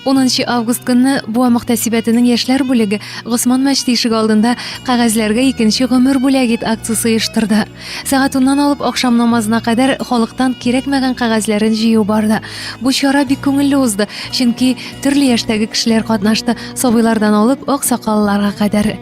10 август көнне Буа мөхтәсибәтенең яшьләр бүлеге Госман мәчете ишеге алдында кәгазьләргә икенче гомер бүләк ит акциясе оештырды. Сәгать 10 алып ахшам намазына кадәр халыктан кирәкмәгән кәгазьләрен җыю барды. Бу чара бик күңелле узды, чөнки төрле яшьтәге кешеләр катнашты, сабыйлардан алып аксакалларга кадәр.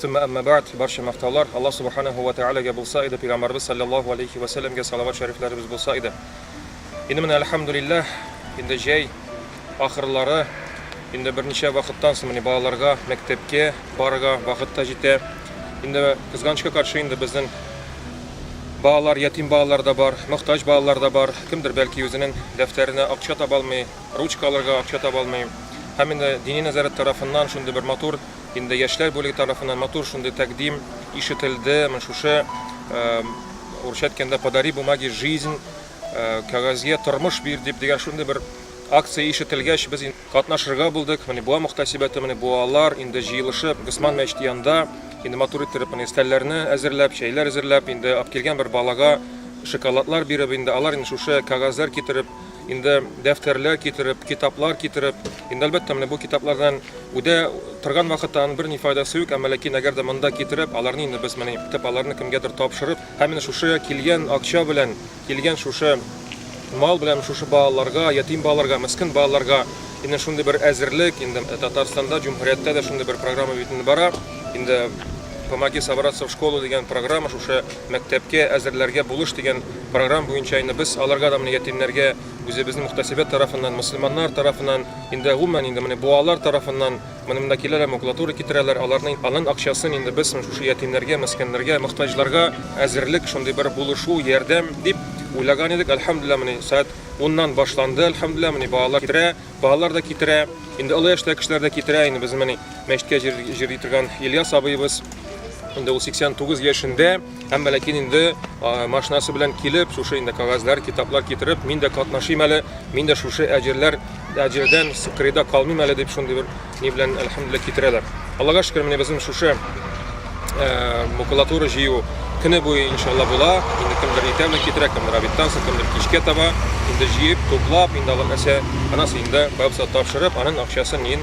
Сумма әмма бәгъд, барча мактаулар Аллаһ Субаханәһү вә Тәгаләгә булса иде, Пәйгамбәребез салләллаһу галәйһи вә сәлләмгә салават шәрифләребез булса иде. Инде менә әлхәмдүлилләһ, инде җәй ахырлары, инде берничә вакыттан соң менә балаларга мәктәпкә барырга вакыт та җитә. Инде кызганычка каршы инде безнең балалар, ятим балалар да бар, мохтаҗ балалар да бар, кемдер бәлки үзенең дәфтәренә акча таба алмый, ручка алырга акча таба алмый. Һәм инде дини нәзарәт тарафыннан шундый бер матур, Инде яшьләр бүлеге тарафыннан матур шундый тәкъдим ишетелде, менә шушы урысча әйткәндә подари бумаги жизнь, кәгазьгә тормыш бир дип дигән шундый бер акция ишетелгәч, без катнашырга булдык. Менә буа мөхтәсибәте, менә буалар инде җыелышып Госман мәчете янында инде матур иттереп менә өстәлләрне әзерләп, чәйләр әзерләп, инде килгән бер балага шоколадлар биреп, инде алар инде шушы кәгазьләр китереп, Инде дәфтәрләр китереп, китаплар китереп, инде әлбәттә менә бу китаплардан үдә торган вакытта аның берни файдасы юк, әмма ләкин әгәр дә монда китереп, аларны инде без менә китапларны кемгәдер тапшырып, һәм менә шушы килгән акча белән, килгән шушы мал белән шушы балаларга, ятим балаларга, мескен балаларга инде шундый бер әзерлек, инде Татарстанда, җөмһүрияттә дә шундый бер программа бит инде бара, инде Помоги собраться в школу дигән программа, шушы мәктәпкә әзерләргә булыш дигән Програм буенча инде без аларга да менә ятимнәргә үзебезнең мөхтәсибәт тарафыннан, мөселманнар тарафыннан, инде гомумән инде менә буалар тарафыннан, менә монда киләләр, макулатура китерәләр, аларның алган акчасын инде без менә шушы ятимнәргә, мескеннәргә, мохтаҗларга әзерлек, шундый бер булышу, ярдәм дип уйлаган идек. Әлхәмдүлилләһ, менә сәгать уннан башланды, әлхәмдүлилләһ, менә балалар китерә, балалар да китерә, инде олы яшьтәге кешеләр дә китерә, инде безнең менә мәчеткә җир җир җитергән Ильяс абыебыз, инде ул 89 яшендә. Һәм Мәләкин инде машинасы белән килеп, шушы инде кагазьләр, китаплар китереп, мин дә катнашыйм әле, мин дә шушы әҗерләр, әҗердән кырыйда калмыйм әле дип шундый бер ни белән әлхәмдүлилләһ китерәләр. Аллага шөкер, менә безнең шушы макулатура җыю көне буе иншалла була. Инде кемдер иртәме китерә, кемдер обедтан соң, кемдер кичкә таба. Инде җыеп, туплап, инде алар нәрсә, анасы инде бабса тапшырып, аның акчасын ин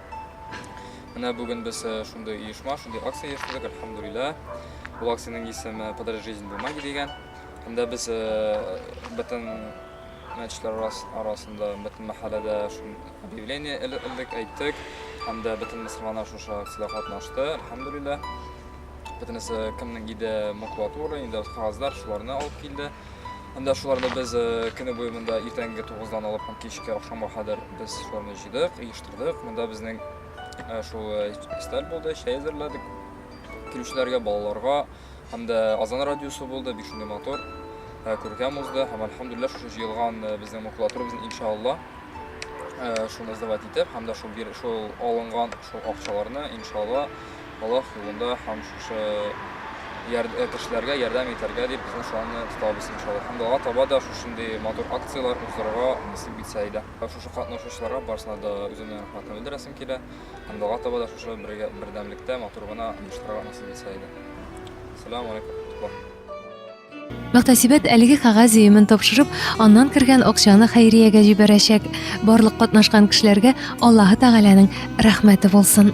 Менә бүген без э, шундый оешма, шундый акция оештырдык, альхамдулилла. Бу акциянең исеме «Подари жизнь бумаги» дигән. Анда без э, бөтен мәчетләр арасында, бөтен мәхәлләдә объявление элдек, әйттек. Һәм дә бөтен мөселманнар шушы акциядә катнашты, альхамдулилла. Бөтенесе кемнең иде макулатура, инде кагазлар, шуларны алып килде. Һәм дә шуларны без э, көне буе монда иртәнге 9-дан алып кичке ахшамга кадәр без шуларны җыйдык, Кырдык, монда безнең э, шул э, фестиваль булды, чәй әзерләдек. Килүчеләргә, балаларга һәм дә Азан радиосы булды, бик шундый матур э, күркәм узды һәм альхамдулилла шушы җыелган э, безнең макулатурабызны иншалла э, шуны сдавать итеп һәм дә шул бир- шул алынган шул акчаларны иншалла Аллаһ юлында һәм шушы яр- э, кешеләргә ярдәм итәргә дип безнең шуларны тотабыз иншалла. Һәм дә алга таба да шушындый матур акцияләр уздырырга насыйп итсә иде. Шушы катнашучыларга барсына да үземнең рәхмәтне белдерәсем килә. Һәм дога таба да шушы бергә бердәмлектә матур гына оештырырга насыйп итсә иде. Сәлам алейкум, туклар. Мөхтәсибәт әлеге кәгазь өемен тапшырып, аннан кергән акчаны хәйриягә җибәрәчәк. Барлык катнашкан кешеләргә Аллаһы Тәгаләнең рәхмәте булсын.